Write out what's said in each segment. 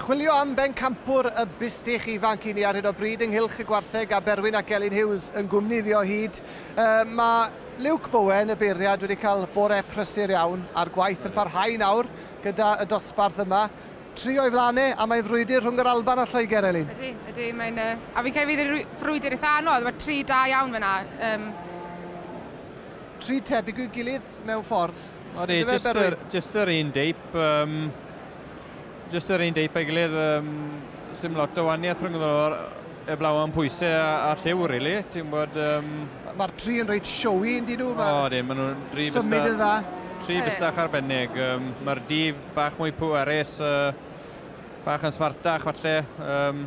Chwilio am bencampwr y bustych ifanc i ni ar hyn o bryd ynghylch y gwartheg a Berwyn ac Elin Hughes yn gwmni fi o hyd. Uh, mae Luke Bowen, y beiriad, wedi cael bore prysur iawn a'r gwaith yn parhau nawr gyda y dosbarth yma. Tri o'i flaen e, a mae'n frwydr rhwng yr Alban a Lloegr, Elin. Ydy, ydy, mae'n... A fi'n credu fydd e'n frwydr eitha' anodd, mae tri da iawn fan'na, yym. Tri tebyg i'w gilydd mewn ffordd. Odi, jyst yr, jyst yr un deip, yym, jyst yr un deip a'i gilydd, yym, sim lot o waniaeth rhwng y heblaw am pwysau a, a lliw, rili, really. ti'n bod... Um... Mae'r tri yn reit siowy, yn dyn nhw? O, dim, maen nhw'n tri bystach... Symud yn dda. Tri bystach arbennig. Um, Mae'r dif bach mwy pwerus, uh, bach yn smartach falle. Um,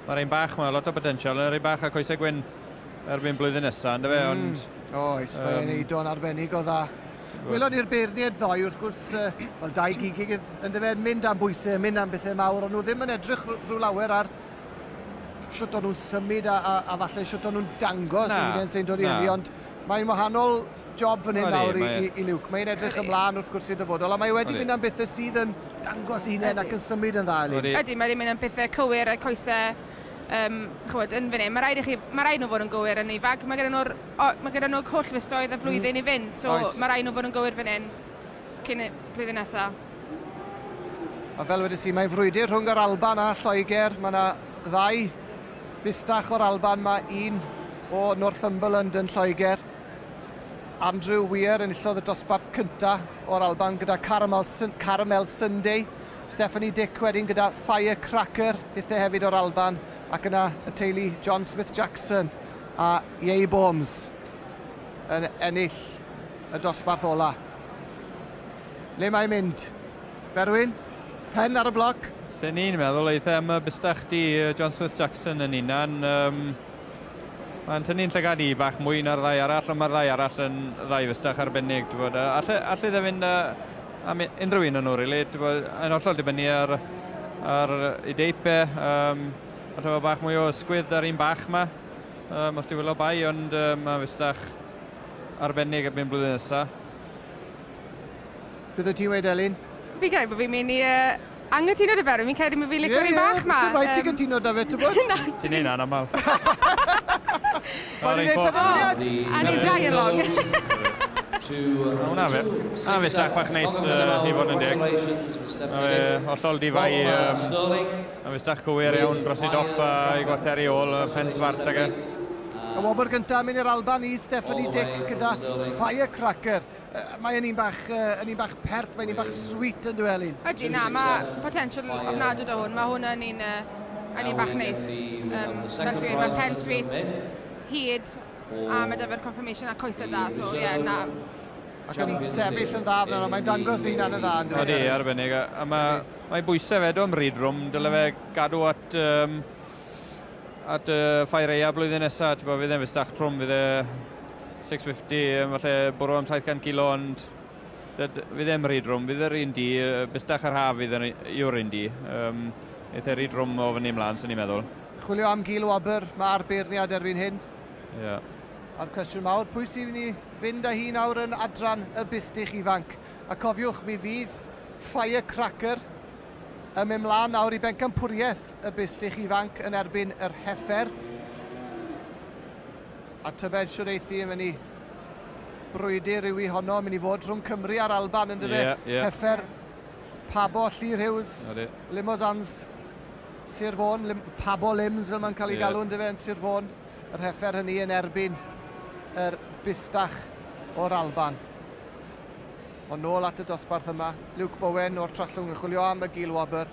Mae'r ein bach mae lot o potensial, yr ein bach a coesau gwyn erbyn blwyddyn nesaf, ynddo fe, mm. ond... Oes, um, mae'n ei do'n arbennig o dda. Wylon ni'r beirniaid ddoe, wrth gwrs, uh, wel, dau gig yn dyfa yn mynd am bwysau, mynd am bethau mawr, ond nhw ddim yn edrych rhyw lawer ar sut o'n nhw'n symud a, a, a falle sut o'n nhw'n dangos na, yn sy'n dod i hynny, ond mae'n wahanol job fan hyn nawr i, i, i Luke. Mae'n edrych ymlaen wrth gwrs i'r dyfodol, a mae wedi mynd am bethau sydd yn dangos ei hunain ac yn symud yn dda, Elin. Ydy, mae wedi mynd am bethau cywir a'r coesau um, chywed, yn fan hyn. Mae rhaid, i chi, mae rhaid nhw fod yn gywir yn ifanc. Mae gyda nhw'r mae gyda nhw holl fisoedd a mm. blwyddyn mm. i fynd, so Oes. mae rhaid nhw fod yn gywir fan hyn cyn y blwyddyn nesaf. A fel wedi si, mae frwydr rhwng yr Alban a Lloegr. Mae yna ddau fistach o'r Alban, mae un o Northumberland yn Lloegr. Andrew Weir enillodd y dosbarth cyntaf o'r Alban gyda Caramel, Caramel Sunday. Stephanie Dick wedyn gyda Firecracker, hithe hefyd o'r Alban, ac yna y teulu John Smith Jackson a Yei Bombs yn ennill y dosbarth ola. Le mae'n mynd? Berwyn? Pen ar y bloc? Sy'n ni'n meddwl eitha am y bystach di John Smith Jackson yn unan. Um, Mae'n tynnu'n llygad i bach mwy na'r ddau arall, ond mae'r ddau arall yn ddau fystach arbennig. Bod, uh, alle, alle dde fynd uh, am unrhyw un yn nhw, really. Bod, yn hollol dibynnu ar, ar y deip e. Um, alle fod bach mwy o ysgwydd ar un bach yma. Um, os di wylo bai, ond um, mae'n fystach arbennig erbyn blwyddyn nesaf. Beth o ti'n wedi, Elin? Fi'n credu bod fi'n mynd i uh, Anghytuno 'da fe, rwy'n credu mae fi'n licio rhywun bach 'ma. Ie, ie, byse rhaid ti gytuno 'da fe, tybod? Ti'n neud hynna'n aml. O'n i'n neud penderfyniad! A ni'n dau yn wrong. O, na fe. Na fe, stag bach neis, i fod yn deg. Mae fe hollol di-fai, mae fe stag cywir iawn dros ei dop a'i gwartheri ôl, pen smart ag e. Y wobr gyntaf yn mynd i'r Alban i Stephanie Dick gyda Firecracker. Mae yn un bach, uh, yn un bach pert, mae'n un bach sweet yn dweud Elin. Ydy, na, mae potensial ofnadwy o hwn. Mae hwn yn un, uh, yn un bach neis. Um, fel ti'n mae pen sweet, hyd, a mae dyfer confirmation a coesau da, so ie, yeah, na. Ac yn sefyll yn dda fan yna, mae'n dangos un yn y dda. Ydy, arbennig. A mae, mae bwysau fe do am ryd rwm, dyle fe gadw at um, at y Ffair Eia blwyddyn nesaf, ti'n bod, fydd e'n fusach trwm, fydd e 650, falle bwrw am 700 kilo, ond fydd e'n rhy drwm, fydd yr un di, bustach yr haf fydd yw'r un di. Um, eitha rhy drwm o fyny ymlaen, sy'n ni'n meddwl. Chwilio am gil o aber, mae'r beirniad erbyn hyn. Ie. Yeah. A'r cwestiwn mawr, pwy sy'n ni fynd â hi nawr yn adran y bustich ifanc? A cofiwch, mi fydd Firecracker ym mlaen nawr i bencampwriaeth y bistych ifanc yn erbyn yr heffer. A tybed siwr eithi yn mynd i brwydr yw i honno, mynd i fod rhwng Cymru a'r Alban yn dyfa. Yeah, yeah. Heffer, Pabo, Llyr Hughes, Limos Anst, Sir Fôn, Lim, Pabo Lims fel mae'n cael ei yeah. galw yn dyfa yn Sir Fôn. Yr heffer hynny yn erbyn yr bistach o'r Alban. Ond nôl at y dosbarth yma, Luke Bowen o'r Trallwng yn chwilio am y Gil Wobr.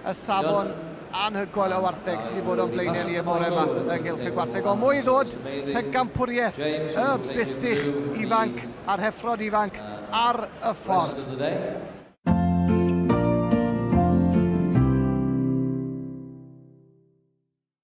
Y safon anhygoel o wartheg sydd wedi bod o'n blaenau ni y bore yma ynghylch y gwartheg. O mwy ddod, pegampwriaeth y bustych ifanc a'r heffrod ifanc ar y ffordd.